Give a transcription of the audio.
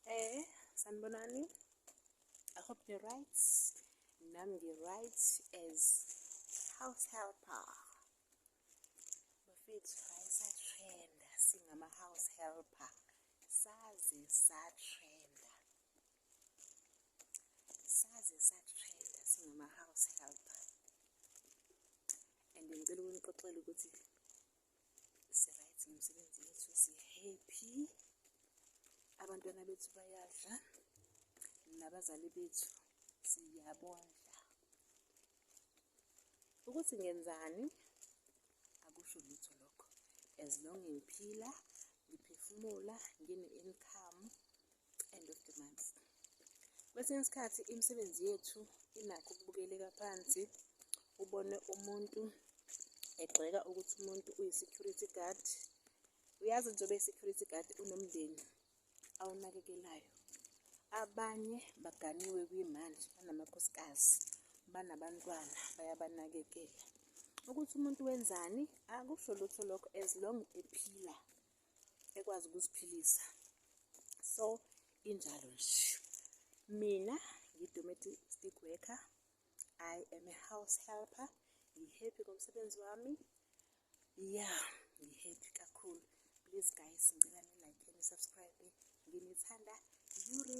Eh, sanibonani. I hope you're right. Nam you're right as house helper. Bafethu ayisatrenda singama house helper. Saze satrenda. Saze satrenda singama house helper. And ngicela ukunixoxela ukuthi siright ngomsebenzi yethu sihappy abantwana bethu bayadla nabazali bethu siyabondla ukuthi ngenzani akusho lutho lokho as long ngiphila ngiphefumula ngine-income end of the month kwesinye isikhathi imisebenzi yethu inakho ukubukeleka phansi ubone umuntu egxeka ukuthi umuntu uyi-security guard uyazi njengoba i-security guard unomndeni awunakekelayo abanye baganiwe kwimanje banamakhosikazi banabantwana bayabanakekela ukuthi umuntu wenzani akusho lutho lokho as long ephila ekwazi ukuziphilisa so injalo nje mina ngi-domestic worker i am a house helper ngi-happy ngomsebenzi wami ya yeah, ngi-happy kakhulu please guys ngicela ni-like nisubscribe nginithanda yuri